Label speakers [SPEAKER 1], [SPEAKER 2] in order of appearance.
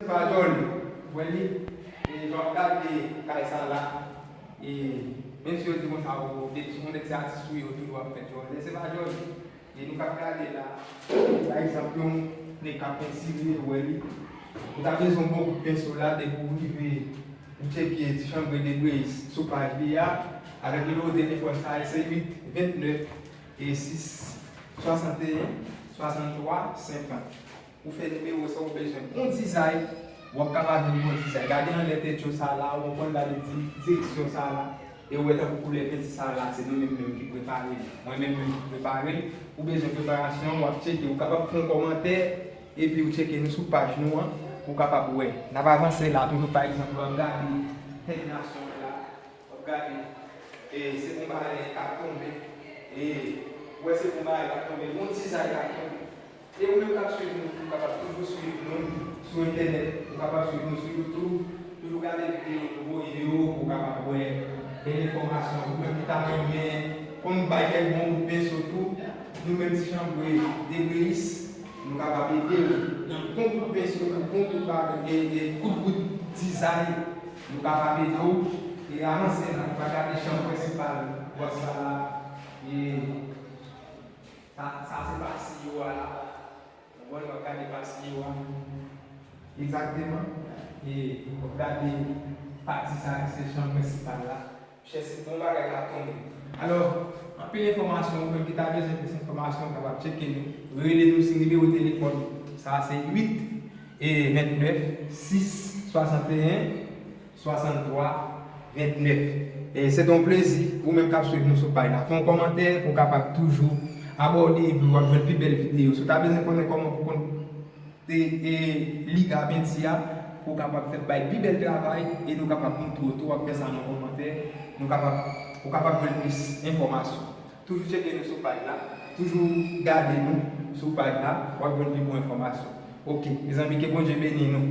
[SPEAKER 1] Pardon mwen li e jan wap gade kay sa la e menm si yo di konsa ou depi se yon nèg se atis ou ye ou toujou ap fè djòl lè se pa djòl e nou kap gade la pa egzanp yon nèg kap pentire ou wè li ou ta bezwen yon bon kout penso la depi ou rive ou tcheke ti chanbre de Grace sou paj li a avèk nimewo telefòn sa a se 8 29 e 6 61 63 50 Ou fè nimewo sa ou bezwen bon dizay wap kapab jwenn bon dizay gade anlè tèt yo sa la ou konprann gade direksyon sa la e ou wè tankou koulè penti sa la se nou menm menm ki prepare l mwen menm menm ki prepare l ou bezwen preparasyon wap tcheke ou kapab fon kòmantè epi ou tcheke nou sou paj nou an pou ou kapab wè nap avanse la toujou pa egzanp wap gade tèt nasyon an la wap gade e se bon bagay kap tonbe e ou wè se bon bagay kap tonbe bon dizay kap tonbe. E ou menm kap swiv nou ou kapab toujou swiv nou sou entènèt ou kapab swiv nou sou YouTube toujou gade videyo nouvo yo pou ou kapab wè bèl enfòmasyon ou menm ki ta renmen konn bay kèk bon kout penso tou nou menm ti chanbre debreyis nou kapab ede ou nan bon kout penso nan bon kout bagay e kout bout dizay nou kapab ede ou e avanse nan ou ka gade chanm prensipal whatsapp la e. Sa se pa siyo a la. Ou wè wap gade pa siyo a. Egzakteman. E wap gade pati sa ki se chanm prensipal la. Chè se bon bagay kap tonbe. Alò, anpil enfòmasyon ou menm ki ta bezwen plis enfòmasyon kapab tcheke nou. Rele nou sou nimewo telefòn sa se 8 e 29 6 61 63 29 E se te yon plezi ou menm kap swiv nou sou paj la fè yon kòmantè pou w kapab toujou abòde epi wap jwenn pi bèl videyo si w ta bezwen konnen kòman pou w konn te e li ga penti a pou w kapab fè bay pi bèl travay e nou kapab montre w tou wap fè sa nan kòmantè nou kapab ou kapab jwenn plis enfòmasyon toujou tcheke nou sou paj la toujou gade nou sou paj la wap jwenn pi bon enfòmasyon ok mezanmi ke Bondye beni nou.